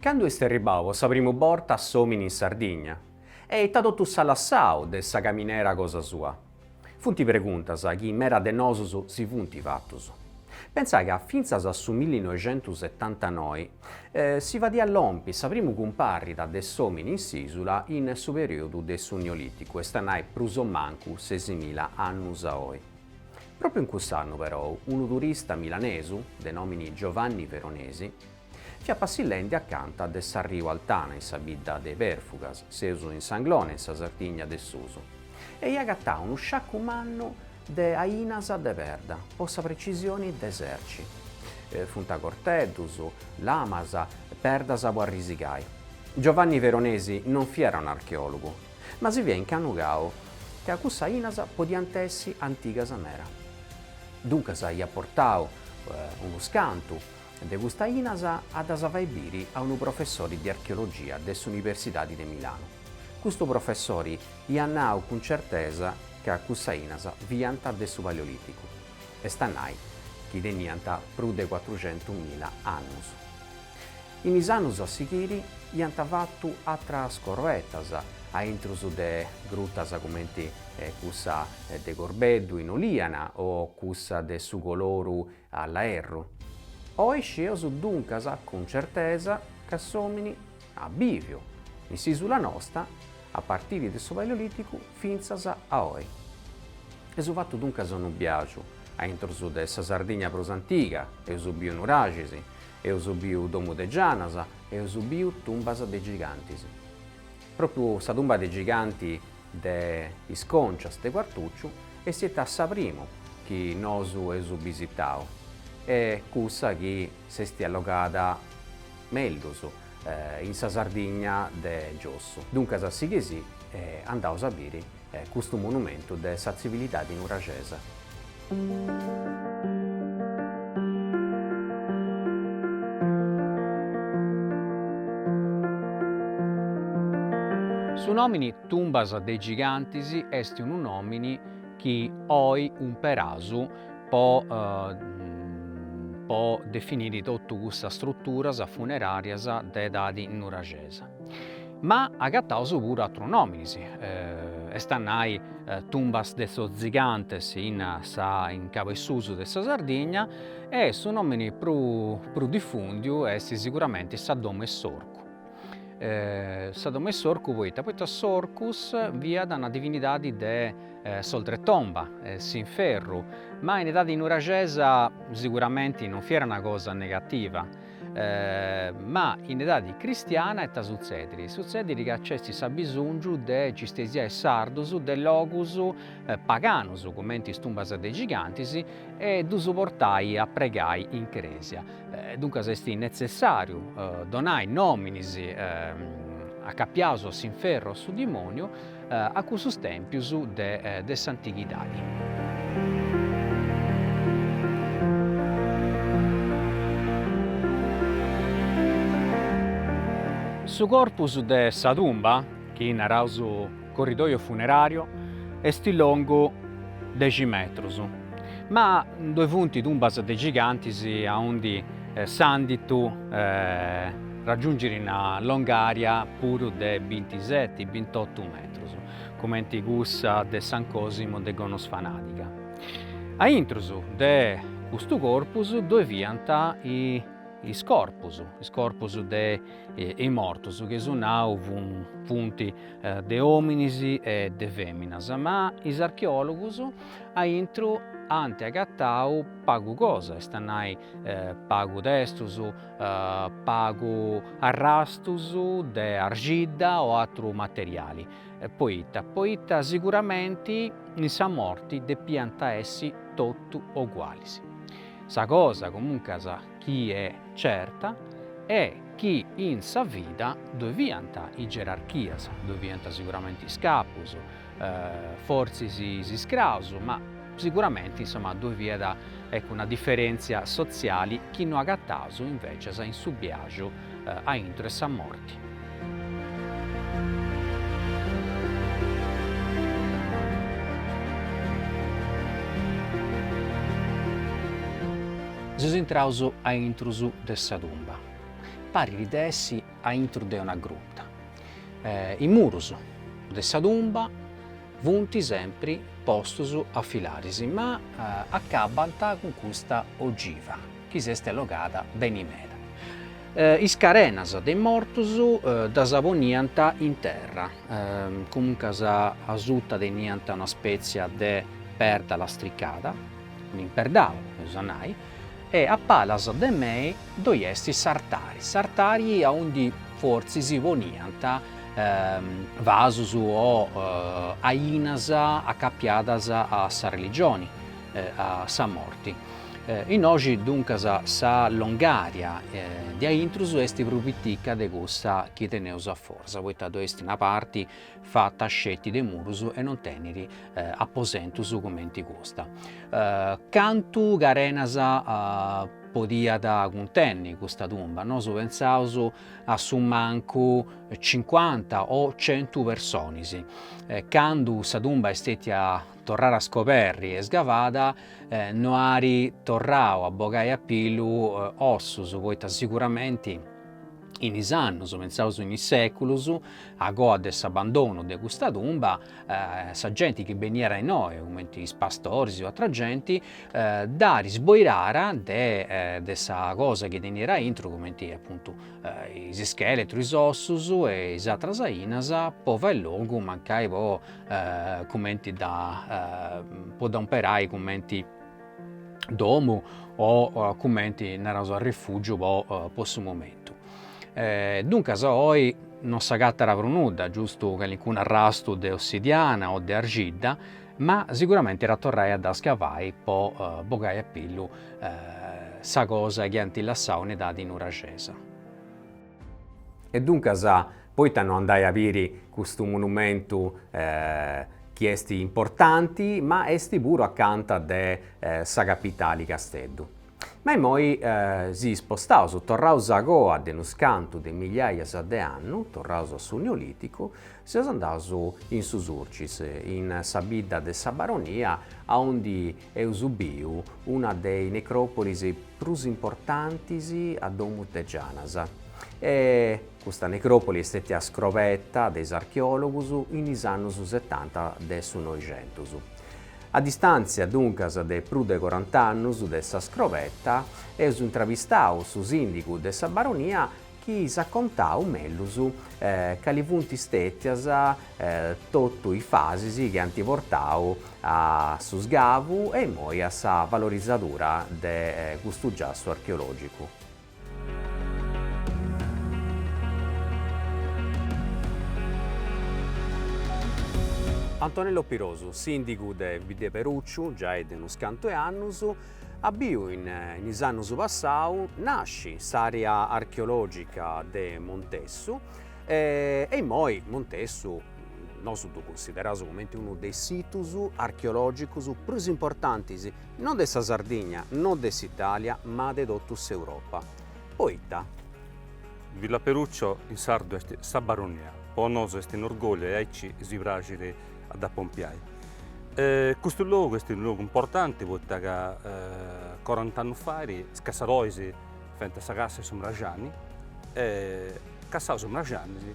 Candu est arribau po sa primu borta s'omini in Sardigna e ita totu s'at lassau de sa caminera cosa sua? Funt preguntas chi meda de nosus si funt fatus. Pentzai ca fintzas a su millinoixentusetantanoi si fadiat lompi sa primu cumparta de s'omini in s'isula in su periodu de su Nioliticu, est a nai prus o mancu sesimila annus a oi. Propriu in cuss'annu perou unu turista milanesu, de nomini Giovanni Veronesi, Fiat passillendi acanta de s'arriu Altana in sa bidda de Perfugas, seus in s'Anglona in sa Sardigna de susu, e ia agatau unu sciacu mannu de ainas de perda, po sa precisioni de serci. Funt corteddus, lamas, perdas po arrisigai. Giovanni Veronesi non fiat un'archeòlogu, ma si fiat incanugau ca cussas ainas podiant essi antigas meda. Duncas iat portau unus cantu, De custas ainas a ddas fai biri a unu professori de archeologia de s'Universidadi de Milanu. Custu professori iat nau cun certesa ca cussas ainas fiant de su Paleoliticu, est a nai chi teniant prus de cuatruxentu mila annus. In is annus a sighiri iant fatu atras scorrovatas a intrus de grutas cumenti cussa de Corbeddu in Oliana o cussa de su Coloru A Laerru. Oi scieus duncas cun certesa ca s'omini at biviu in s'isula nosta a partiri de su Paleoliticu fintzas a oi. Eus fatu duncas unu biagiu a intrus de sa Sardigna prus antiga, eus biu nuraxis, eus biu domu de gianas, eus biu tumbas de gigantis. Propriu sa tumba de giganti de is concias de Quartucciu est istètia sa primu chi nosu eus bisitau e cussa chi s'est allogada mellus in sa Sardigna de giossu. Duncas sighei·sì e andaus a biri custu monumentu de sa tzivilidadi nuraxesa. Su nòmini Tumbas de Gigantis est unu nòmini chi oi umperaus po po definiri totu cussas struturas funeràrias de edadi nuraxesa. Ma agataus puru atru nominis, est a nai tumbas de sos zigantes in sa in cabu 'e susu de sa Sardigna e su nomini pru pru diffundiu est siguramente sa domo 'e s'orcu. Sa domo 'e s'orcu poita, poita s'Orcus fiat una divinidadi de s'oltretomba, s'inferru, ma in edadi nuraxesa siguramente non fiat una cosa negativa Ma in edadi cristiana ita sutzediri? Sutzediri ca nc'est s'abisongiu de nci stesiai sardus de logus paganus, cumenti is tumbas de gigantis, e ddus portai a pregai in cresia. Duncas est netzessariu donai nominis acapiaus a s'inferru o a su dimoniu, a cussus tèmpius de s'antighidadi. Su corpus de sa tumba, chi naraus su corridòiu funeràriu, est longu dexi metrus, ma ddoi funt tumbas de gigantis aundi s'anditu raggiungere una longària puru de bintiseti, bintotu metrus, cumenti cussa de San Cosimu de Gonos Fanàdiga. A intrus de custu corpus ddoi fiant is corpus, is corpus de is mortus, chi su nau funt de òminis e de fèminas, ma is archeòlogus a intru ant agatau pagu cosa, est a nai pagu testus, pagu arrastus de arxidda o atru materiali, poita, poita siguramenti in sa morti depiant essi totu ogualis. Sa cosa comuncas chi est certa est chi in sa vida ddoi fiant is gerarchias, ddoi fiant siguramenti is capus, Fortzis is iscraus, ma siguramenti insoma ddoi fiat eccu una diferèntzia sotziali chi no agataus invècias in su biaxu a intro 'e sa morti. Seus intraus a intrus de sa tumba. Parit de essi a intro de una gruta. Is murus de sa tumba funt sempri postus a filaris, ma acabant cun custa ogiva chi s'est allogada beni meda. Is carenas de is mortus ddas poniant in terra, comuncas asuta teniant una spètzia de perda lastricada, un'imperdau eus a nai, E a palas de mei ddoi est s'artari, s'artari aundi fortzis si poniant vasus o ainas acapiadas a sa religioni, a sa morti. Innoxi duncas sa longària diaintrus est prus pitica de cussa chi teneus a foras, poita ddoi est una parti fata sceti de murus e non teniri aposentus cumenti custa. Cantu carenas podiat cuntenni custa tumba, nosu pensaus a su mancu cincuanta o centu personis. Candu sa tumba est stetia torrada a scoberri e sgavada no ari torrau a bogai a pillu ossus, poita siguramenti in is annus, pensaus in is seculus, a coa de s'abandonu de custa tumba, sa genti chi beniat innoi, cumenti is pastoris o atra genti, dd'at isboirara de sa cosa chi teniat aintru, cumenti apuntu is ischeletrus, is ossus e is atras ainas, po fai logu mancai po cumenti dda po dda umperai cumenti domu o cumenti naraus a rifùgiu po po su momentu. E duncas oi non s'agatara prus nudda, giustu calincunu arrastu de ossidiana o de arxidda, ma siguramenti iat a torrai a dda scavai po bogai a pillu sa cosa chi ant lassau in edadi nuragesa. E duncas, poita no andai a biri custu monumentu chi est importanti, ma est puru acanta de sa capitali Casteddu. Ma imoi si spostaus, torraus a goa de unus cantu de migliaias de annu, torraus a su Neolìticu, seus andaus in su Surcis, in sa bidda de Sa Baronia aundi eus biu una de is necròpolis prus importantis a domus de Gianas. E custa necròpoli est stètia scrobeta de is archeòlogus in is annus setanta de su Noixentus. A distàntzia, duncas, de prus de corant'annus de sa scrobeta, eus intrabistau su sìndigu de Sa Baronia, chi s'at contau mellus cali funt stètias totu is fasis chi ant portau a su sgavu e imoi a sa valorisadura de custu giassu archeològicu. Antonello Pirosu, sìndigu de Biddaperucciu giai de unus cantu 'e annus, Apu biu in is annus passaus nasci s'àrea archeològica de Montessu e immoi Montessu nosu ddu cunsideraus cumenti unu de is situs archeològicus prus importantis no de sa Sardigna, no de s'Italia ma de totu s'Europa. Poita? Villaperuccio in sardu est sa baronia, po nosu est un'orgogliu e aici si praxit a dda pompiai. Custu logu est unu logu importanti poita ca corant'annus fait is cassadoris faiant sa cassa in su mraxani e cassau su mraxani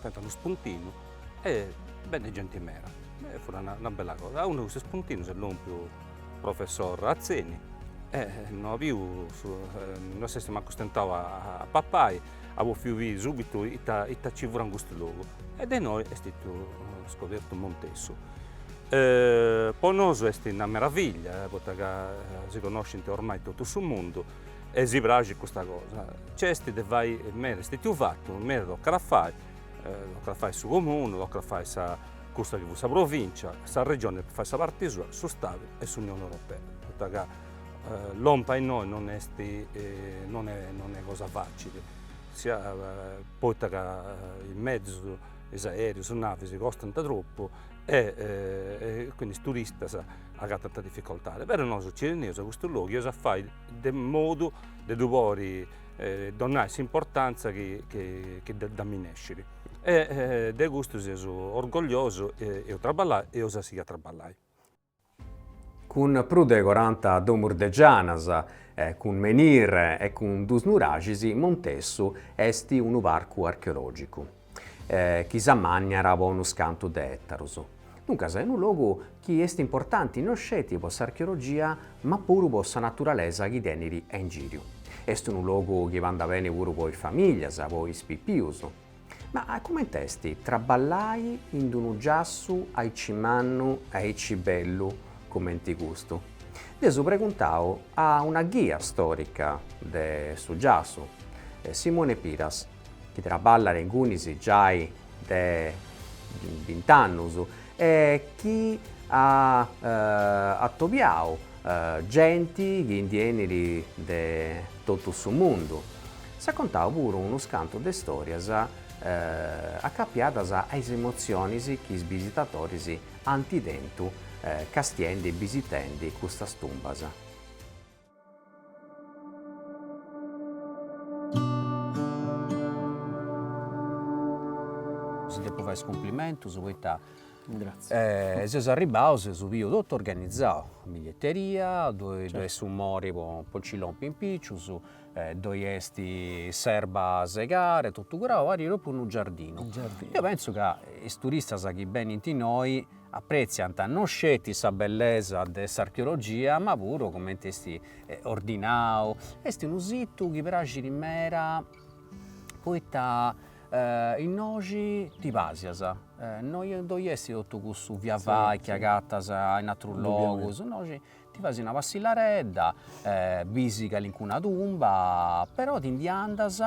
faiant unu spuntinu e beniat genti meda e fut una bella cosa. A unu de cussus spuntinus est lompiu professor Atzeni e no at biu, no s'est acostau a papai at bòfiu biri subitu ita nci furat in custu logu e de innoi est stetiu scobertu Montessu. Po nosu est una meravillia poita ca si connoscint ormai totu su mundu e si praxit custa cosa. Nc'est de fai meda, est stetiu fatu meda, tocat a fai, tocat a fai su comunu, tocat a fai sa cussa chi fut sa provincia, sa regioni depit fai sa parti sua, su Stadu e s'Unioni Europea, poita ca Lompi innoi non est non est cosa facili, sia poita ca is mezzus, is aereus, is navis costant tropu e quindi is turistas agatant difficoltadi, però nosu nci teneus custu logu e eus a fai de modu de ddu podi donai s'importantza chi ddi minescit e de custu seus orgogliosus, eus a traballai e eus a sighiri a traballai cun prus de coranta domus de gianas, cun menhir e cun duus nuraxis, Montessu est unu parcu archeològicu chi s'amànniat po unus cantus de etarus. Duncas est unu logu chi est importanti no sceti po s'archeologia ma puru po sa naturalesa chi tenit a ingìriu. Est unu logu chi bandat beni puru po is famìlias, po is pipius. Ma comente est traballai in unu giassu aici mannu e aici bellu comente custu? Dd'eus preguntau a una ghia storica de su giassu, Simone Piras, chi traballat ingunis giai de bint'annus e chi at atobiau Genti chi ndi 'enit de totu su mundu. S'at contau puru unus cantus de stòrias acapiadas a is emotzionis chi is bisitatoris ant tentu castiendi e bisitendi custas tumbas. Si depu fai is cumplimentus poita Gràtzias, seus arribbaus, eus biu totu organizau, biglietteria, ddoi est su mori po nci lompi in picius, ddoi est s'erba segada, totu curau, parit propriu unu giardinu, deu pentzu ca is turistas chi benint innoi apretziant non sceti sa bellesa de s'archeologia ma puru coment'est ordinau, est unu situ chi praxit meda poita innoxi ti pasias, no ddoi est totu cussu via vai chi agatas in atrus logus, innoxi ti fais una passillaredda e bis calincuna tumba, però ti ndi andas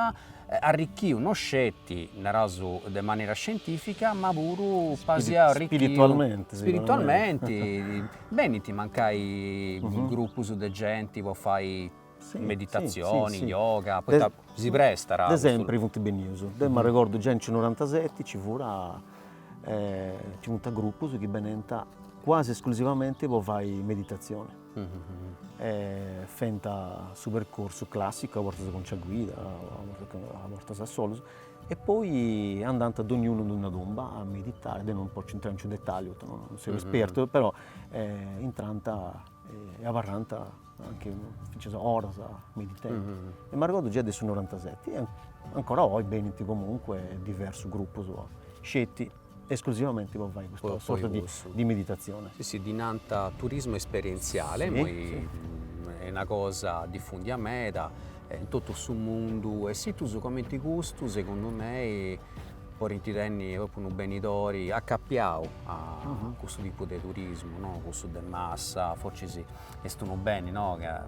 arricchiu no sceti, naras, de manera scientifica, ma puru pasiau spiritualmenti benint mancai grupus de genti po fai Meditatzioni, yoga, poita si prestat. De sempri funt bennius, deu m'arregordu già in su norantaseti nci fut, nci funt grupus chi benint quasi esclusivamenti po fai meditatzioni. Fent su percorsu classicu, a bortas cun sa guida, a bortas a solus, e poi andant dognunu in una tomba a meditai, deu non potzu intrai in su detalliu, poita non seu espertu, però intrant e abarrant Anche fintzas oras meditendi. E m'arregordu già de su norantaseti e ancora oi benint comunque diversus grupus sceti esclusivamenti po fai custa sorta di meditatzione. Sì, ddi nant turismu esperientziale, imoi est una cosa difundia meda in totu su mundu e situs comenti custu segundu mei podint tenni propriu unu benidori acapiau a custu tipu de turismu, no cussu de massa, forzis Est unu beni no ca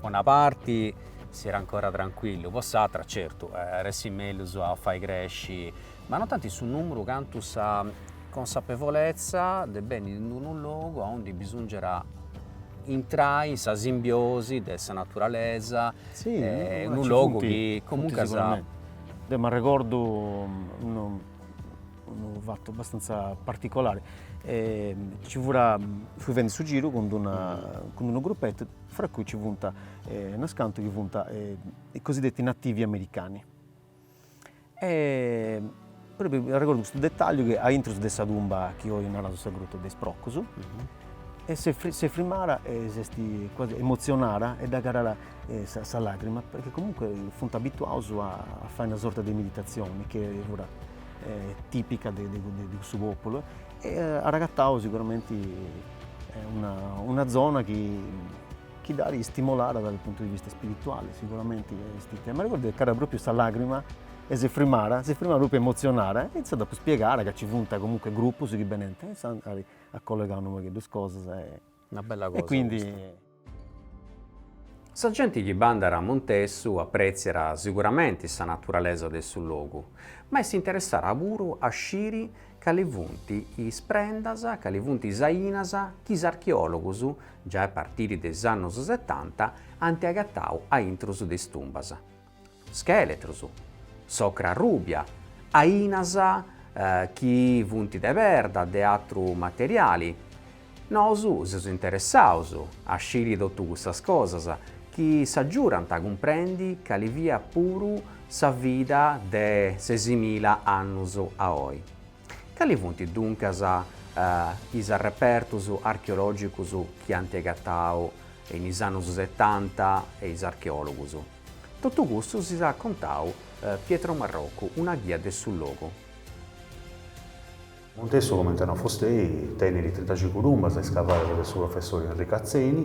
po una parti siat ancora trancuillu, po s'atra certu iat essi mellus a fai cresci ma non tanti su nùmeru cantu sa consapevolezza de benni in unu logu aundi bisòngiat intrai in sa simbiosi de sa naturalesa e unu logu chi comunque sa. Deu m'arregordu Unu fatu abbastanza particolare, ci fura, fui fendi su giru cun d'una, cun d'unu gruppetu fra cui ci funt unas cantu chi funt i cosiddetti nativi americani e propriu arregordu custu dettagliu chi aintru de sa tumba chi oi naraus sa Gruta de is Procus e s'est s'est firmada e s'est quasi emozionada e dd'at calada sa sa lagrima perchè comunque funt abituaus a fai una sorta de meditazioni chi fut tìpica de cussu pòpulu e at agatadu siguramenti una zona chi dd'at istimolada dae su puntu de vista ispirituale, siguramenti est ita. M'arregordu chi nc'at pròpriu sa lagrima e si frimat, si frimat pròpriu emotzionada e intzà dd'apu spiegada ca nci funt comunque grupus chi benint e intzà a collegà unu pagheddu is cosas e quindi Sa genti chi bandat a Montessu apretziat siguramenti sa naturalesa de su logu, ma est interessada puru a sciri cali funt is prendas, cali funt is ainas chi is archeòlogus, giai a partiri de is annus setanta, ant agatau a intrus de is tumbas. Schèletrus, s'ocra rùbia, ainas chi funt de perda de atru materiali. Nosu seus interessaus a sciri totu custas cosas chi s'agiudant a cumprendi cali fiat puru sa vida de sesimila annus a oi. Cali funt duncas is arrepertus archeològicus chi ant agatau in is annus setanta is archeòlogus? Totu custu si s'at contau Pietro Marrocu, una ghia de su logu. Montessu comente at nau fustei, tenit trintacincu tumbas iscavadas de su professori Enricu Atzeni,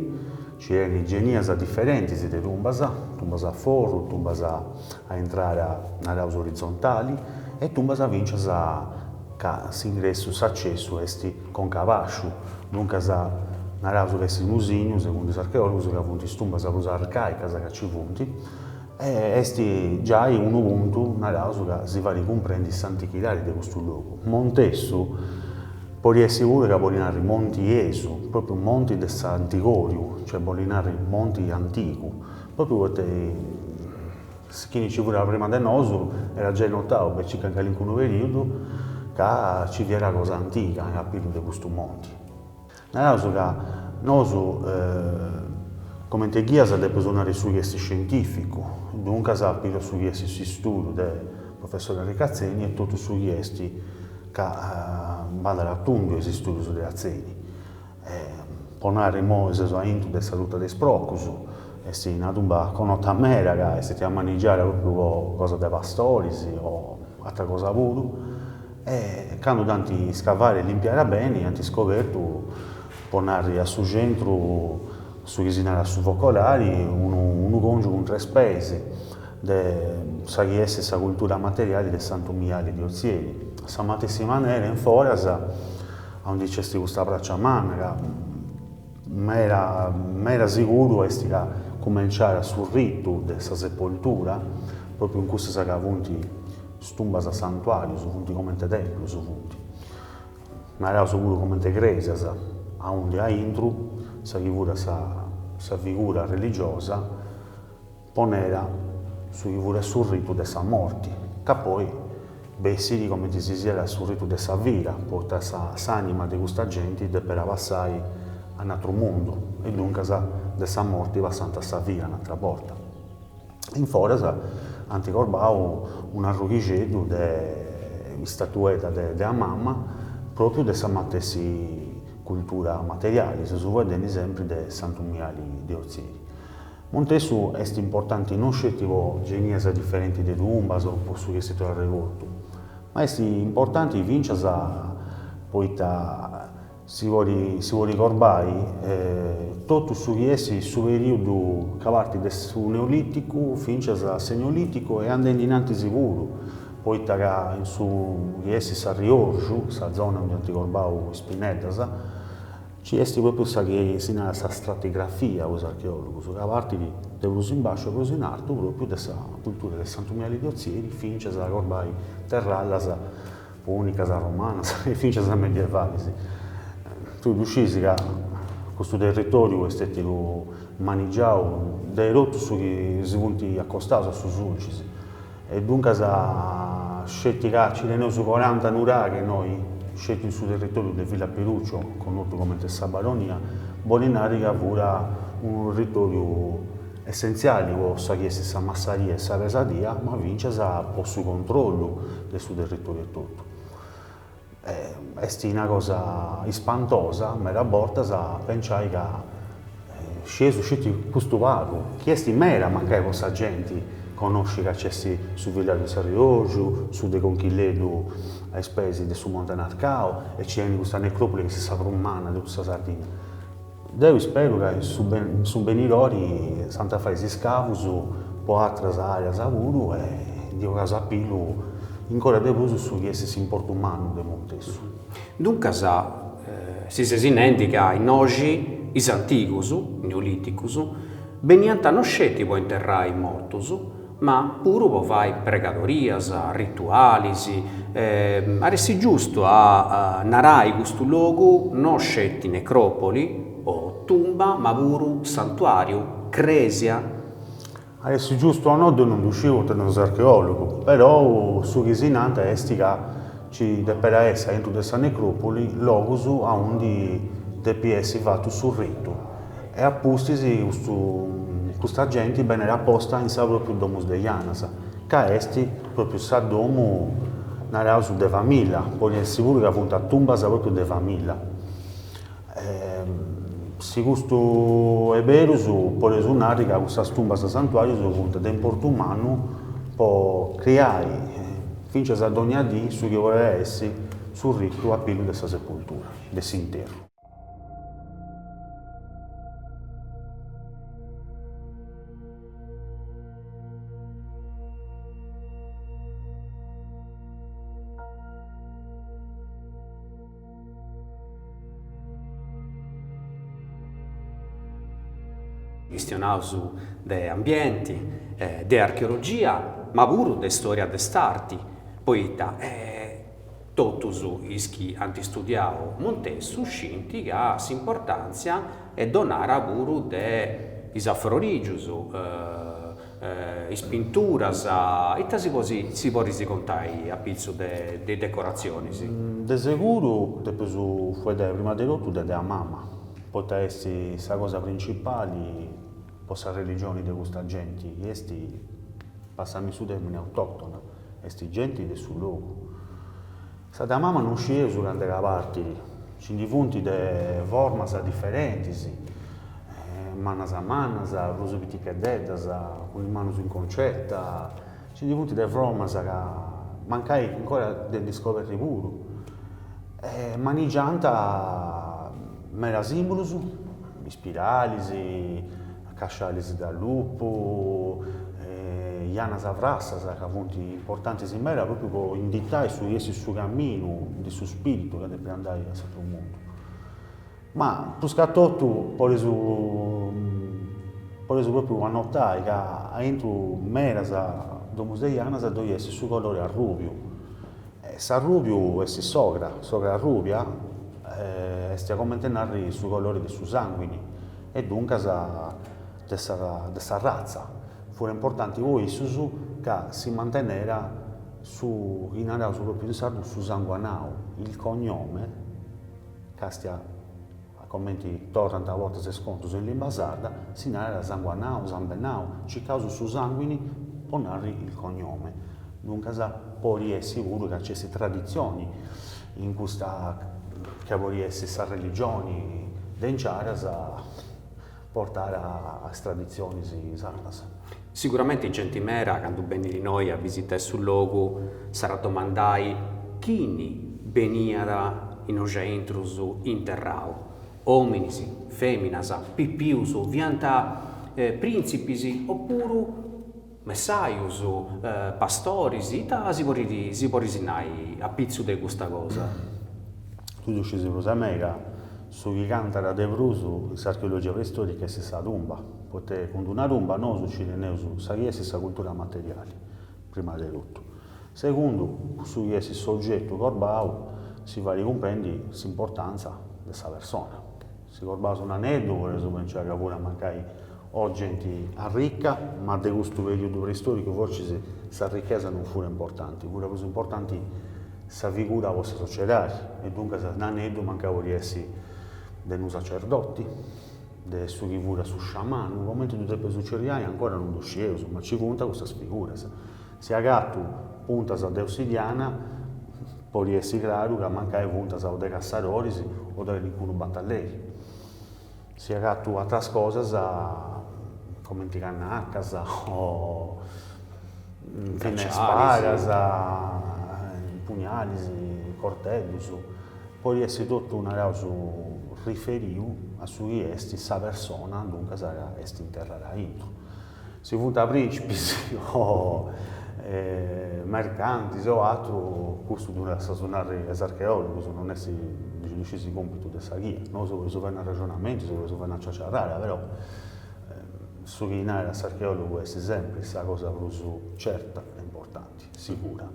ci tenit genias diferentis de tumbas, tumbas a forru, tumbas a intrada, naraus orizontali, e tumbas fintzas ca s'ingressu, s'accessu est conca a bàsciu, duncas naraus ca est unu signu, segundu is archeòlogus, ca funt is tumbas prus arcàicas ca nci funt, e est giai unu puntu, naraus, ca si fait cumprendi s'antichidadi de custu logu. Montessu, podit essi puru ca bolit narri monti Esu, pròpriu monti de s'antigòriu, cioè bolit narri monti antigu, pròpriu poita Is chi nci furant prima de nosu era giai notau de circa in calincunu periudu ca nci fiat cosa antiga in apitzu de custu monti. Naraus ca nosu, comente ghias depeus nari su chi est scientificu, duncas apitzu su chi est s'istudu de professori Enricu Atzeni e totu su chi est ca bandat a tundu a is istudus de Atzeni. E po nare immoi seus aintru de sa gruta de is procus, est una tumba connota meda ca est stètia manigiada propriu po cosa de pastoris o atra cosa puru, e candu dd'ant iscavada e limpiada beni ant iscobertu, po nare a su centru, su chi si narat su Focolari, unu unu congiu cun tres peis de sa chi est sa cultura materiali de Santu Miali de Ozieri. A sa matessi manera in foras. A undi nc'est custa pràcia manna ca meda siguru est ca cumenciat su ritu de sa sepoltura, pròpriu in cussas ca funt is tumbas a santuàrius, funt comente templus funt, naraus puru comente crèsias, a undi aintru sa chi furat sa figura religiosa ponerat su chi furat su ritu de sa morti, ca poi bessit comente si siat su ritu de sa vida, poita s'anima de custa genti deperat passai a n'atru mundu e duncas de sa morti passant a sa vida un'atra borta. In foras ant corbau un'arrughixeddu de istatuedda dea mama, propriu de sa matessi cultura materiali, seus faeddendi sempri de Santu Miali de Otzieri. Montessu est importanti non sceti po genias diferenti de tumbas o po su chi est arregortu, ma est importanti fincias poita si podit corbai totu su chi est su perìodu ca partit de su Neolìticu fincias a s'Eneolìticu e andendi in antis puru, poita ca in su chi est s'Arriorgiu, sa zona undi ant corbau is pinneddas, Ci est propriu sa chi si narat sa stratigrafia po is archeòlogus, ca partit de prus in basciu e prus in artu propriu de sa cultura de Santu Miali de Otzieri fincias a corbai terrallas pùnicas, romanas e fincias medievalis. Tui ddu scisi ca custu territòriu est stètiu manigiau de totus chi si funt acostaus a su Sulcis. E duncas sceti ca nci teneus coranta nuraghi innoi, sceti in su territoriu de Villaperuccio, connotu comente Sa Baronia, bolit nari ca furat unu territoriu essentziali po sa chi est sa massaria e sa pesadia, ma fincias po su controllu de su territoriu etotu. Est una cosa ispantosa meda bortas a penciai ca scieus sceti custu pagu, chi est meda mancai po sa genti, connosci ca nc'est su villàgiu de s'Arriorgiu, su de Conchilleddu a is peis de su Monte Narcau e nci tenit custa necròpoli chi est sa prus manna de totu sa Sardinna. Deu isperu ca in su benidori s'ant a fai is iscavus po atras areas puru e ndi 'ogas a pillu incora de prus su chi est s'importu mannu de Montessu. Duncas, si ses nendi ca innoxi is antigus, neoliticus, beniant no sceti po interrai is mortus, ma puru po fai pregadorias, ritualis, at essi giustu a narai custu logu no sceti necròpoli o tumba ma puru santuàriu, crèsia. At essi giustu o no ddu non ddu sciu poita non seu archeòlogu, perou su chi si nant est ca Ci depiat essi aintru de sa necròpoli logus aundi depit essi fatu su ritu e a pustis custu custa genti beniat posta in sa pròpriu Domus de Janas, ca est pròpriu sa domu, naraus, de familla, podit essi puru ca funt tumbas pròpriu de familla. Si custu est berus, podeus narri ca cussas tumbas santuàrius funt de importu mannu po criai, fintzas a dònnia dì, su chi podet essi su ritu a pillu de sa sepultura, de s'interru. Chistionaus de ambienti, de archeologia, ma puru de istòria de s'arti, poita totus is chi ant istudiau Montessu scint ca s'importàntzia est donada puru de is afrorìgius is pinturas, ita si podis contai a pitzu de de is decoratzionis? De seguru depeus fueddai prima de totu de dea mama, poita est sa cosa principali po sa religioni de custa genti chi est, passami su termini, autoctona, est genti de su logu. Sa dea mama non scieus cand'est ca partit, nci ndi funt de formas diferentis, mannas mannas, prus piticheddeddas, cun is manus in concetta, nci ndi funt de formas ca mancai ancora de ndi scoberri puru. Manigiant meda sìmbolus, ispiralis Cascialis de lupu, janas frassas ca funt importantis meda pròpriu po inditai su chi est su caminu de su spiritu ca depit andai a s'atru mundu. Ma pruscatotu podis podis pròpriu annotai ca aintru medas domus de janas ddoi est su colori arrùbiu S'arrùbiu est s'ogra, s'ogra arrùbia est a comente narri su colore de su sànguini e duncas de sa de sa ratza. Fut importanti po issus ca si mantenera su chi naraus pròpiu in sardu su sanguanau, il cognome, càstia A comenti torrant a bortas is contus in limba sarda, si narat sanguanau, sambennau, circaus su sanguini po narri il cognome. Duncas podit essi puru ca ci est traditzioni in custa ca podit essi sa religioni de inciaras, portare as traditzionis sardas. Siguramente genti meda candu benit innoi a bisitai su logu s'at a domandai chini beniat innoi aintru interrau. Ominis, feminas, pipius, fiant printzipis o puru Messaius, pastoris, ita si podit si podit nai a pitzu de custa cosa? Tui ddu scis prus de mei ca, su chi cantat de prus in s'archeologia preistorica est sa tumba, poita cun d'una tumba nosu nci teneus su chi est sa cultura materiali, prima de totu. Segundu, cun su chi est s'ogetu crobau si fait cumprendi s'importantza de sa persona. Si crobaus un aneddu podeus pentzai ca furiat mancai o genti arricca, ma de custu periudu preistoricu forcis s'arricchesa non fut importanti, fut prus importanti sa figura po sa sociedadi e duncas un'aneddu mancai podit essi de unu sacerdoti, de su chi fut su sciamanu, comenti ddu depit tzerriai ancora non ddu scieus, ma ci funt custas figuras. Si agatu puntas de ossidiana, podit essi craru ca mancai funt o de cassadoris o de calincunu batalleri. Si agatu atras cosas, comenti cannacas o finas spadas, pugnalis, corteddus, podit essi totu, naraus, riferiu a su chi est sa persona, duncas, ca est interrada aintru. Si funt prìncipis o mercantis o atru, custu ddu lassas a narri a is archeòlogus, non est diaici su còmpitu de sa ghia. Nosu podeus fai unu rexonamentu, si podeus fai una ciaciarrada, però su chi narat a s'archeòlogu est sempri sa cosa prus certa e importanti, sigura.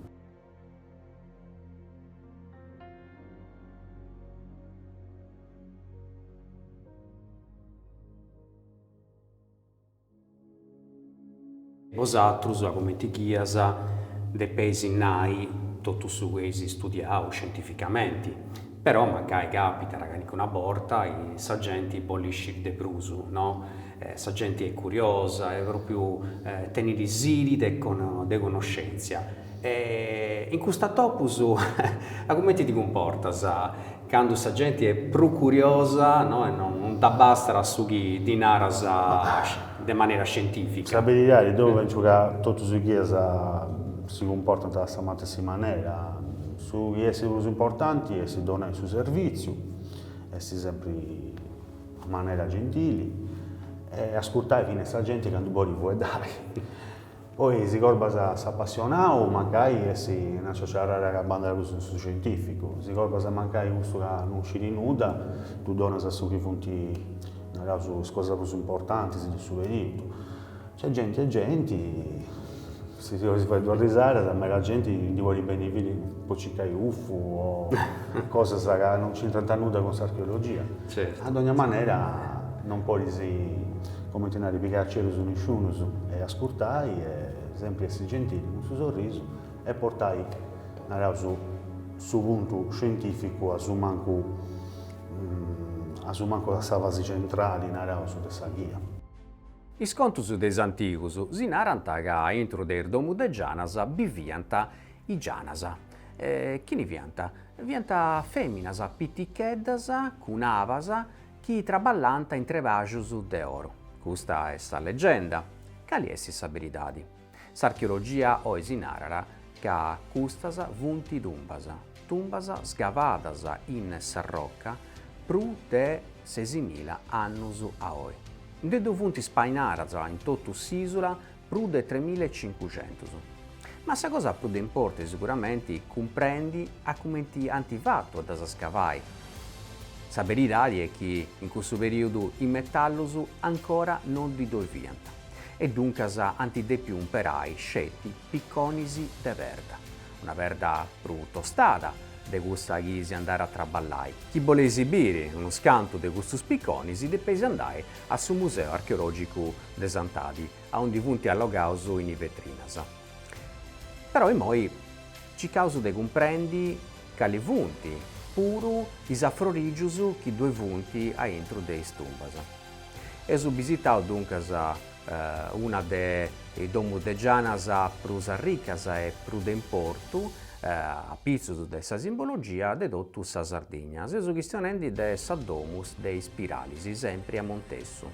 Bosatrus, comenti ghias, depeis nai totu su chi eis studiau scientificamenti, però mancai càpitat calicuna borta chi sa genti bolit sciri de prus, no? Sa genti est curiosa e pròpriu tenit sidi de connoscèntzia. E in custus atopus cumenti ti cumportas? Candu sa genti est prus curiosa, no, e non dd'abbastat su chi ddi naras de manera scientifica. Sa beridadi, deu pentzu ca totus is ghias si cumportant a sa matessi manera. Su chi est prus importanti est donai su servìtziu, essi sempri in manera gentili e ascurtai finas sa genti candu bolit fueddai. Poi si corbas s'appassionau mancai est inasì chi agabbat andendi cussu in su scientificu, si corbas mancai cussu ca non sciri nudda ddi donas su chi funti naraus is cosas prus importantis de su periudu. Nc'est genti e genti, si si 'olis fai duas risadas, meda genti ndi bolit benni po circai ufo o cosas ca non c'intrant nudda cun s'archeologia. A dogna manera non podis, comenti nari, pigai a giru nisciunus e ascurtai e sempri essi gentili cun su sorrisu e portai, naraus, su puntu scientificu a su mancu a su mancu a sa fasi centrali, naraus, de sa ghia. Is contus de is antigus si narant ca aintru de is domus de Gianas biviant is Gianas. E chini fiant? Fiant fèminas piticheddas, cun abas, chi traballànt in trebajus de oro. Custa est sa legenda. Cali est sa beridadi? S'archeologia oi si narat ca custas funt tumbas, tumbas scavadas in s'arroca prus de sesimila annus a oi. Nde ddoi funt spainadas in totu s'ìsula Prus de tremilla e cincuxentus. Ma sa cosa prus de importu est siguramenti cumprendi a cumenti ant fatu a ddas scavai. Sa beridadi est chi in cussu perìodu is metallus ancora no ddi ddoi fiant e duncas ant dèpiu umperai sceti piconis de perda, una perda prus tostada de cussa chi si andàt a traballai. Chi boleis biri unus cantu de custus piconis depeis andai a su Museu Archeològicu de Santadi, aundi funt allogados in is vetrinas. Però imoi circaus de cumprendi cali funt puru is afrorìgius chi ddoi funt aintru de is tumbas. Eus bisitau duncas una de is domus de Gianas prus arricas e prus de importu, apitzus de sa simbologia de totu sa Sardigna. Seus chistionendi de sa domu de is Spiralis, sempri a Montessu.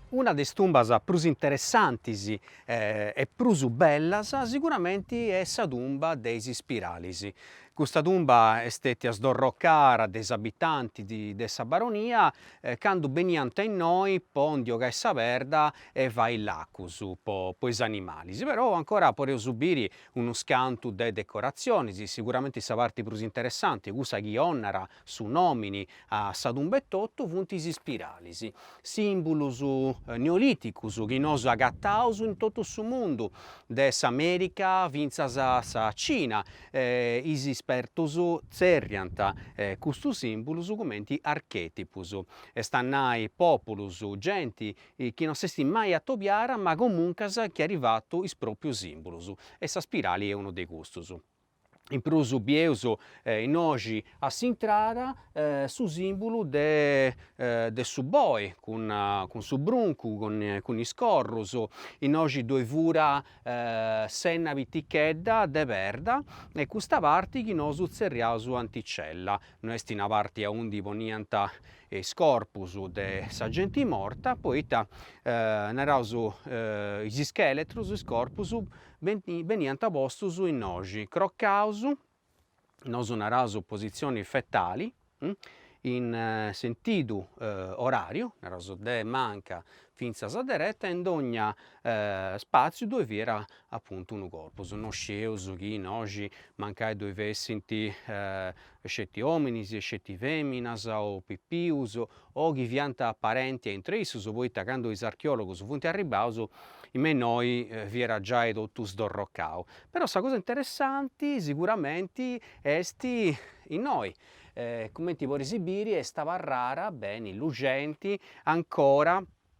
Una de is tumbas prus interessantis e prus bellas siguramenti est sa tumba de is Spiralis. Custa tumba est stetia sdorrocada de is abitantis de sa baronia candu beniant innoi po ndi 'ogai sa perda e fai lacus po is animalis. Però ancora podeus biri unus cantu de decoratzionis, siguramenti sa parti prus interessanti, cussa chi 'onat Su nòmini a sa tumba etotu funt is spiralis, sìmbulus neolìticus chi nosu agataus in totu su mundu, de s'Amèrica fintzas a sa Cina, e is spertus tzerriant custus sìmbulus cumenti archètipus, est a nai pòpulus, genti chi no s'est mai atobiara ma comuncas chi ant fatu is pròpius sìmbulus, e sa spirali est unu de custus. in prus bieus innoi a s'intrada su simbulu de de su boi cun cun su bruncu cun is corrus innoxi ddoi fiat s'enna pitichedda de perda e custa parti chi nosu tzerriaus anticella no esti una parti aundi poniant is corpus de sa genti morta poita naraus is ischeletrus is corpus beniant postus innoxi, crocaus, nosu naraus positzioni fetali, in sentidu oràriu, naraus de manca fintzas a dereta e in dogna spàtziu ddoi fiat apuntu unu corpus, no scieus chi innoxi mancai ddoi fessint e sceti ominis e sceti feminas o pipius o chi fiant parentis a intre issus poita candu is archeologus funt arribbaus me innoi fiat giai totu sdorrocau. Però sa cosa interessanti siguramenti est innoi cumenti podis biri est abarrara beni luxenti ancora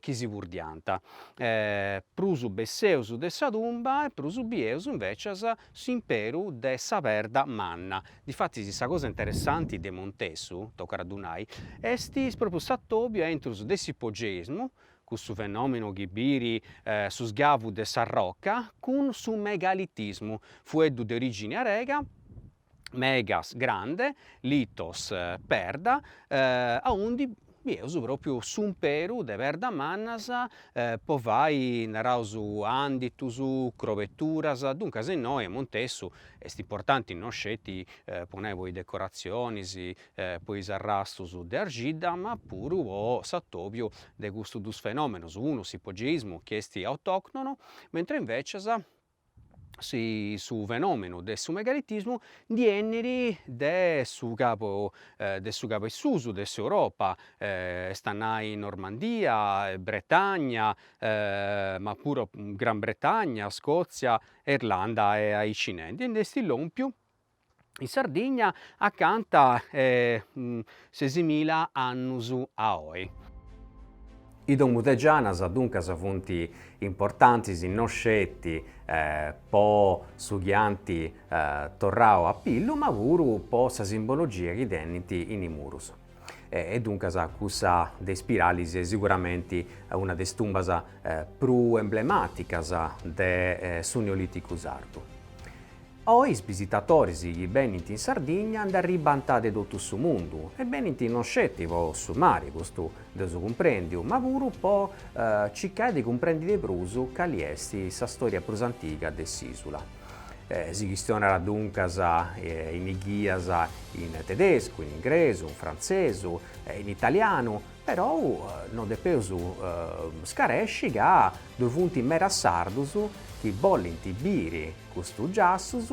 chi si purdiant, prus besseus de sa tumba e prus bieus invècias s'imperu de sa perda manna. Difatis sa cosa interessanti de Montessu, tocat a ddu nai, est pròpriu s'atòbiu aintrus de s'ipogeismu, cussu fenòmenu chi biri su sgavu de sa roca, cun su megalitismu, fueddu de orìgini arega, megas grande litos perda aundi bieus propriu s'umperu de perdas mannas po fai naraus anditus, crobeturas, duncas innoi Montessu est importanti no sceti po nai po is decoratzionis po is arrastus de argidda ma puru po s'atobiu de custus dus fenomenus, unu s'ipogeismu chi est autoctono mentre invecias su fenomenu de su megalitismu ndi 'enit de su cabu de su cabu 'e susu de s'Europa, est a nai Normandia, Bretagna ma puru Gran Bretagna, Scotzia e Irlanda e aici nanti e nd'est lompiu in Sardigna acanta 'e sesimila annus a oi. Is domus de Gianas duncas funt importantis no sceti po su chi ant torrau a pillu ma puru po sa simbologia chi tenint in is murus. E duncas cussa de Ispiralis est siguramenti una de is tumbas prus emblemàticas de su Neolìticu sardu. Oi is bisitatoris chi benint in Sardigna nd'arribbant de totu su mundu e benint non sceti po su mari, custu dd'eus cumprèndiu, ma puru po circai de cumprendi de prus cali est sa stòria prus antiga de s'ìsula. Si chistionat duncas in is ghias in tedescu, in ingresu, in frantzesu, in italianu, perou no depeus scaresci ca ddoi funt medas sardus chi bolint biri custus giassus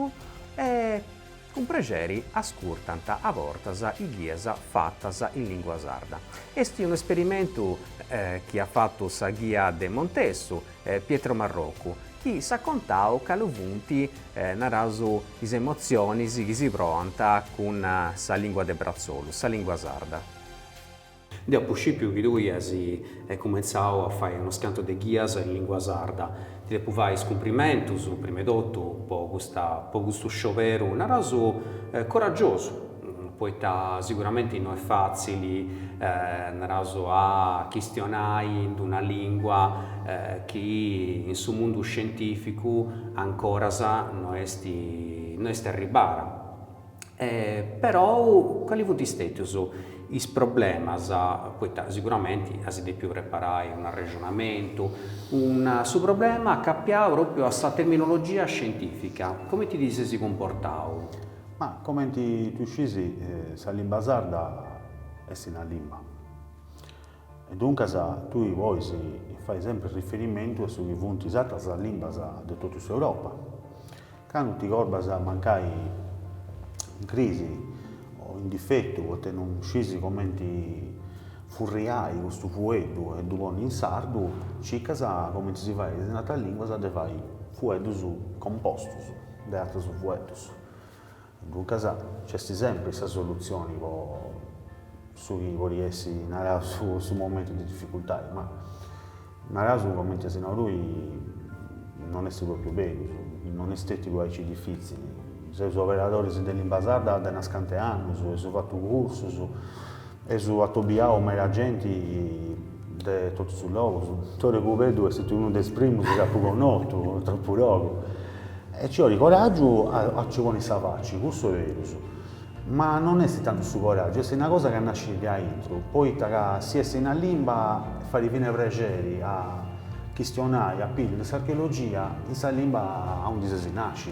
e Cun prexeri ascurtant a bortas is ghias fatas in lìngua sarda. Est unu esperimentu chi at fatu sa ghia de Montessu, Pietro Marroccu, chi s'at contau cali funt, naraus, is emotzionis chi si proant cun sa lìngua de bratzolu, sa lìngua sarda. Deo apu scìpiu chi tui as cumentzau a fai unos cantos de ghias in lìngua sarda. Ti depu fai is cumprimentus, prima 'e totu, po custa po custu scioberu, naraus, coragiosu, poita siguramenti no est fàtzili, naraus, a chistionai in una lìngua chi in su mundu scientìficu ancoras no est no est arribada. perou cali funt stètius is problemas, poita siguramenti as dèpiu preparai un'arrexonamentu, una su problema acapiau propriu a sa terminologia scientifica, comenti ti ses cumportau? Ma comenti tui scis sa limba sarda est una limba. E duncas tui pois fai sempri riferimentu a su chi funt is atras limbas de totu s'Europa. Candu ti corbas mancai in crisi o in difetu poita non scis comenti furriai custu fueddu e ddu ponni in sardu, circas comenti si fait in atras lìnguas de fai fueddus compostus de atrus fueddus. Duncas nc'est sempri sa solutzioni po su chi podit essi naraus su momentu de dificultadi, ma naraus comente as nau tui, non est propriu beru, non est stetidu aici difitzili, seus oberadoris de limba sarda de unos cantos annus, eus fatu cursus, Eus atobiau meda genti de totu is logus. Tore Cubeddu est unu de is primus chi apu connotu, tropu logu. E ci 'olit coràgiu a a nci ponni sa faci, cussu est berus. Ma non est tantu su coràgiu, est una cosa chi nascit de aintru, poita ca si essis in limba fait fines prexeri a chistionai, a piri in s'archeologia in sa limba aundi ses nàsciu.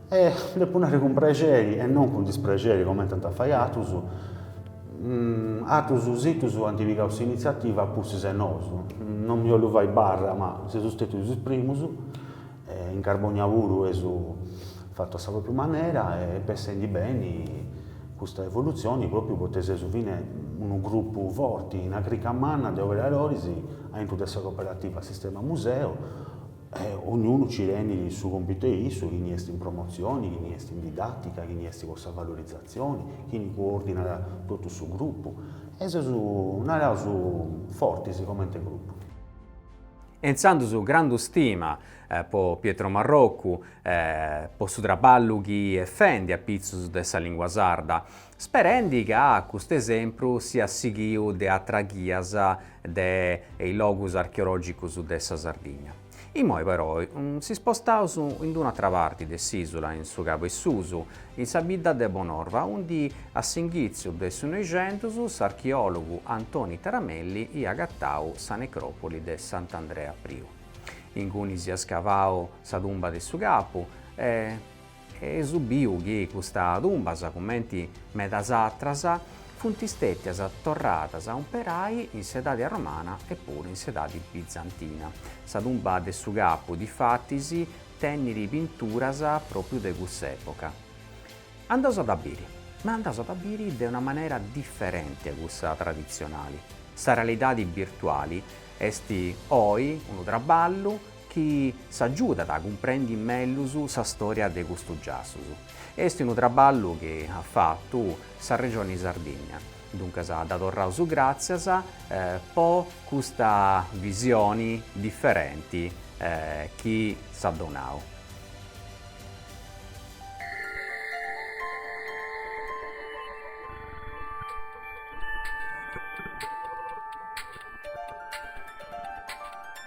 E depu nari cun prexeri e non cun disprexeri comente iant a fai, atrus situs ant pigau s'initziativa a pustis 'e nosu, non mi 'ollu fai barra ma seus stètius is primus, in Carbònnia puru eus fatu a sa pròpriu manera est bessendi beni custa evolutzioni pròpriu poita seus fine unu grupu forti, una crica manna de operadoris aintru de sa cooperativa Sistema Museo E ognunu ci tenit su compitu 'e issu, chini est in promotzioni, chini est in didàtica, chini est po sa valorizatzioni, chini coordinat totu su grupu. E seus, naraus, fortis comente grupu. E intzandus grandu stima po Pietro Marroccu po su traballu chi est fendi apitzus de sa lìngua sarda Sperendi ca cust'esempru siat sighiu de atras ghias de is logus archeològicus de sa Sardigna. Imoi però s'ispostaus in d'un'atra parti de s'ìsula, in su Cabu 'e Susu, in sa bidda de Bonorva, undi a s'inghìtziu de su Noixentus s'archeòlogu Antoni Taramelli iat agatau sa necròpoli de Sant'Andrea Priu. Inguni siat scavau sa tumba de su Capu. Eus biu chi custa tumbas, cumenti medas atras, funt stètias torradas a umperai in s'edadi arromana e puru in s'edadi bizantina. Sa tumba de su capu, difatis, tenit pinturas pròpriu de cussa època. Andaus a dda biri, ma andaus a dda biri de una manera diferenti a cussa traditzionali. Sa realidadi birtuali est oi unu traballu chi s'agiudat a cumprendi mellus sa stòria de custus giassus. Est unu traballu chi at fatu sa Regioni Sardìnnia, duncas dda torraus gràtzias po custa visioni diferenti chi s'at donau.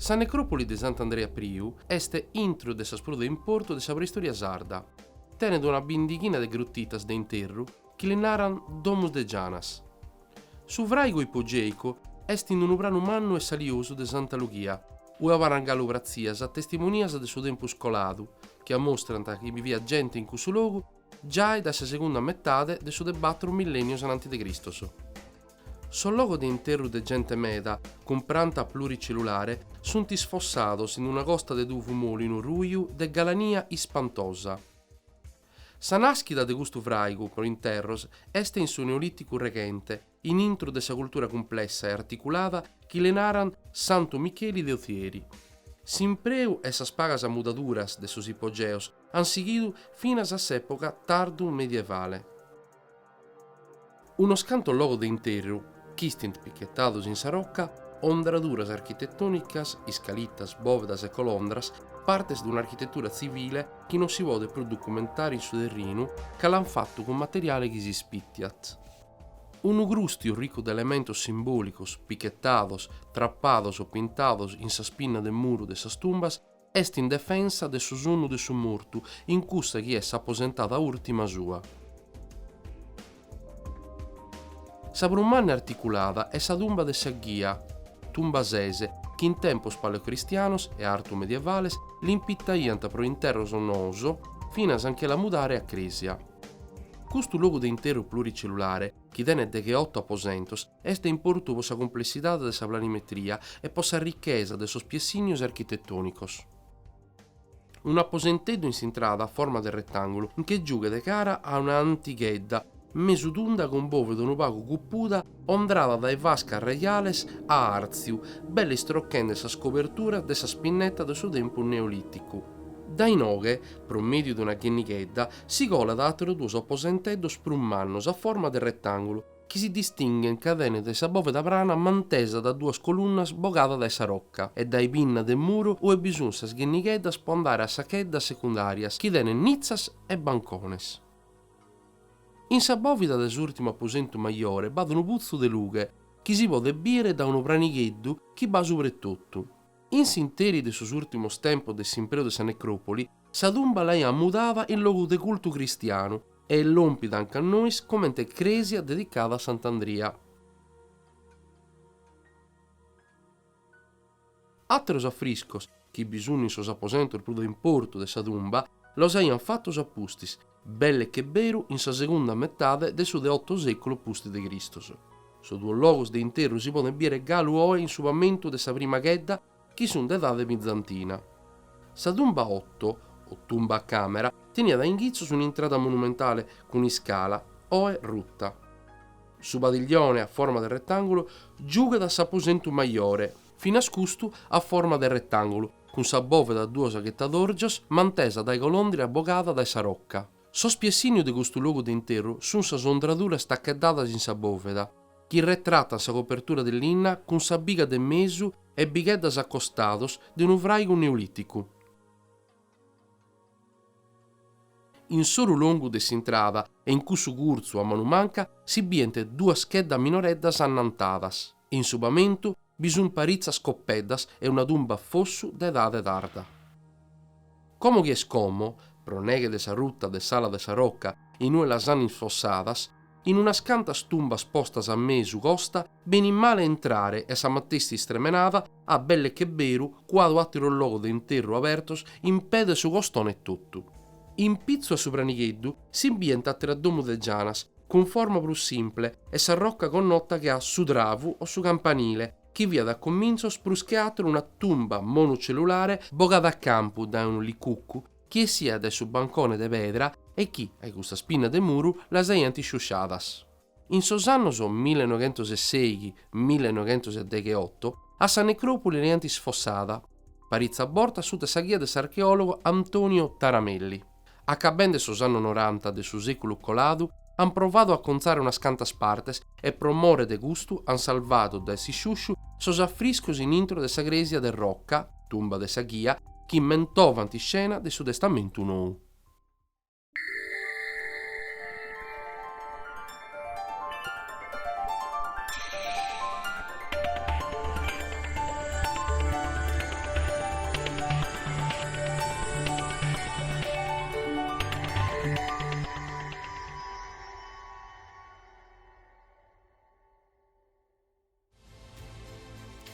Sa necròpoli de Sant'Andrea Priu est intro de sas prus de importu de sa preistòria sarda. Tenet una bindighina de grutitas de interru chi li naran domus de gianas. Su fràigu ipogèicu est in unu pranu mannu e saliosu de Santa Lughia, ue abarrant galu pratzias testimonias de su tempus coladu chi amostrant chi biviat gente in cussu logu Giai dae sa segunda metade de su de batru millènnios ananti de Cristos. Sos logos de interru de gente meda cun pranta pluricellulare sunt isfossados in una costa de tuvu mòlinu ruju de galania ispantosa. Sa nàschida de custu fràigu pro interros est in su Neolìticu reghente, in intro de sa cultura cumplessa e articulada chi li naran Santu Micheli de Othieri. S'impreu e sas pagas mudaduras de sos ipogeos an sighidu finas a s'època tardu-medievale. Unos cantos logos de interru chistint pichetados in sa roca, ondraduras architetònicas, iscalitas, bòvedas e colondras, partes de un'architetura tzivile chi non si podet prus ducumentare in su terrinu ca l'an fatu cun materiale chi s'ispitiat. Unu crùstiu ricu de elementos simbòlicos pichetados, trapados o pintados in sas pinnas de muru de sas tumbas est in defensa de su sonnu de su mortu in cussa chi est s'aposentada ùrtima sua. Sa prus manna e articulada est sa tumba de sa ghia, tumba sese, chi in tempos paleocristianos e artu-medievales l'impittaiant pro interros noos, finas a nche la mudare a crèsia. Custu logu de interru pluricellulare, chi tenet degheoto aposentos, est de importu pro sa cumplessidade de sa planimetria e pro sa richesa de sos piessignos architetònicos. Unu aposenteddu in s'intrada a forma de retàngulu, nche giughet cara a una antighedda mesu tunda cun bòveda unu pagu cupuda ondrada dae fascas rajales a àrtziu, belle istrochende sas coberturas de sas pinnetas de su tempus neolìticu. Dae inoghe, pro mèdiu de una ghennighedda, Si colat a àteros duos aposenteddos prus mannus a forma de retàngulu chi si distinghent ca tenent sa bòveda prana mantesa dae duas colunnas bogadas dae sa roca e dae pinnas de muru ue bi sunt sas ghennigheddas po andare a sas cheddas secundàrias chi tenent nitzas e bancones. In sa bòvida de s'ùrtimu aposentu majore b'at unu putzu de lughe chi si podet bìere dae unu pranigheddu chi b'at subra etotu. In s'interi de sos ùrtimos tempos de s'impreu de sa necròpoli, sa tumba l'aiant mudada in logu de cultu cristianu e est lòmpida anca a nois comente crèsia dedicada a Sant'Andria. Àteros afriscos, chi bi sunt in sos aposentos prus de importu de sa tumba, los aiant fatos a pustis, Belle che beru in sa segunda metade de su de otto seculu pustis de Cristos. Sos duos logos de interru si podent biere galu oe in su pamentu de sa prima chedda chi sunt de edade bizantina. Sa tumba otto, o tumba a camera, teniat a inghitzos un'intrada monumentale cun iscala, oe rutta. Su padiglione a forma de retangulu giughiat a s'aposentu majore, finas custu a forma de retàngulu, cun sa bòveda a duos aghetadòrgios mantesa dae colondra bogada dae sa roca. Su piessìniu de custu logu de interru sun sas ondraduras tacheddadas in sa bòveda, chi retratan sa copertura de linna cun sa biga de mesu e bigheddas acostadas de unu fràigu neolìticu. In s'oru longu de s'intrada e in cussu curtzu a manu manca si bient duas cheddas minoreddas annantadas e in su pamentu bi sunt paritzas coppeddas e una tumba a fossu de edade tarda. Como chi est como, pro neghe de sa ruta de s'ala de sa roca in ue las ant isfossadas, In unas cantas tumbas postas a mesu costa benit male a intrare e sa matessi istremenada at belle che beru cuadu ateros logos de interru abertos in pè de su costone etotu. In pitzu a su pranigheddu si bient ateras domus de gianas cun forma prus simpre e sa rocca connota che a Su Travu o su Campanile chi fiat a comintzos prus che ateru una tumba monocellulare bogada a campu dae unu licuccu chi essiat dae su bancone de pedra e chi, a-i custas pinnas de muru, las aiant sciusciadas. In sos annos mille e noghentos e seighi, mille e noghentos e degheoto, a sa necròpoli l'aiant isfossada paritzas bortas sutta sa ghia de s'archeòlogo Antonio Taramelli. Acabende sos annos noranta de su sèculu coladu, An provadu a contzare unas cantas partes e pro more de custu an salvadu dae s'isciusciu sos afriscos in intro de sa crèsia de Rocca, tumba de sa ghia, chi mentovant iscenas de su Testamentu Nou.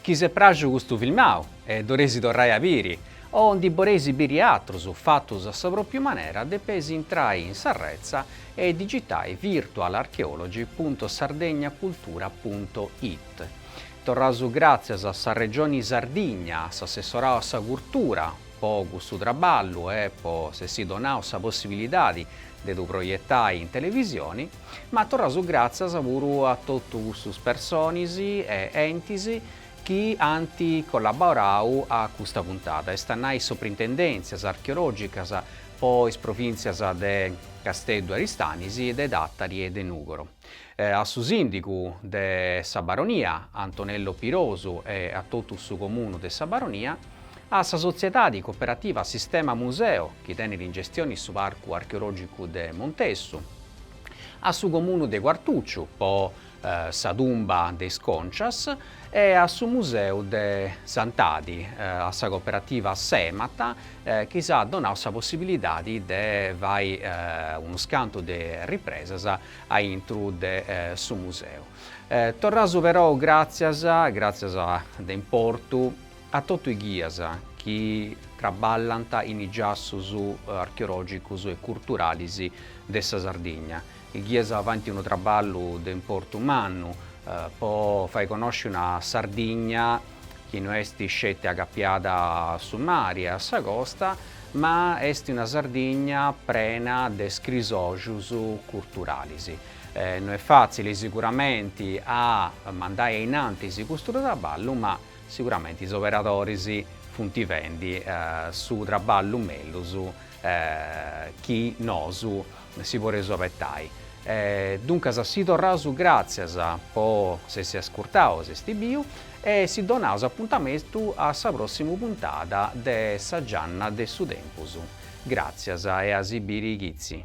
Chi si est pràxiu custu filmau e ddu oreis torrai a biri, o ndi oreis biri atrus fatus a sa propriu manera, depeis intrai in s'arretza e digitai virtualarchaeology punto sardegna cultura punto it. Torraus gràtzias a sa Regioni Sardigna, a s'Assessorau a sa Curtura, Po custu traballu e po s'essi donau sa possibilidadi de ddu proietai in televisioni, ma torraus gràtzias puru a totu custus personis e entis chi ant collaborau a custa puntada, est a nai is soprintendèntzias archeològicas po is provìntzias de Casteddu Aristanis, de Tàtari e de Nùgoro. A su sìndigu de sa Baronia, Antonello Pirosu e a totu su Comunu de sa Baronia, a sa sotziedadi cooperativa Sistema Museo chi tenit in gestioni su Parcu Archeològicu de Montessu, a su Comunu de Quartùciu po sa tumba de is Còncias e a su Museu de Santadi, a sa cooperativa Semata chi s'at donau sa possibilidadi de fai unus cantu de ripresas aintru de su museu. Torraus perou gràtzias, gràtzias de importu, a totu is ghias chi traballant in is giassus archeològicus e curturalis de sa Sardigna, is ghias fant unu traballu de importu mannu po fai connosci una Sardigna chi no est sceti agapiada a su mari e a sa costa, ma est una Sardigna prena de scrisògius curturalis. No est fàtzili siguramenti a mandai a innantis custu traballu, ma siguramenti is operadoris funt fendi su traballu mellus chi nosu si poreus abetai. Duncas si torraus gràtzias po s'essi ascurtau s'essi biu e si donaus apuntamentu a sa pròssima puntada de Sa Gianna de su Tempus. Gràtzias e a si biri chitzi.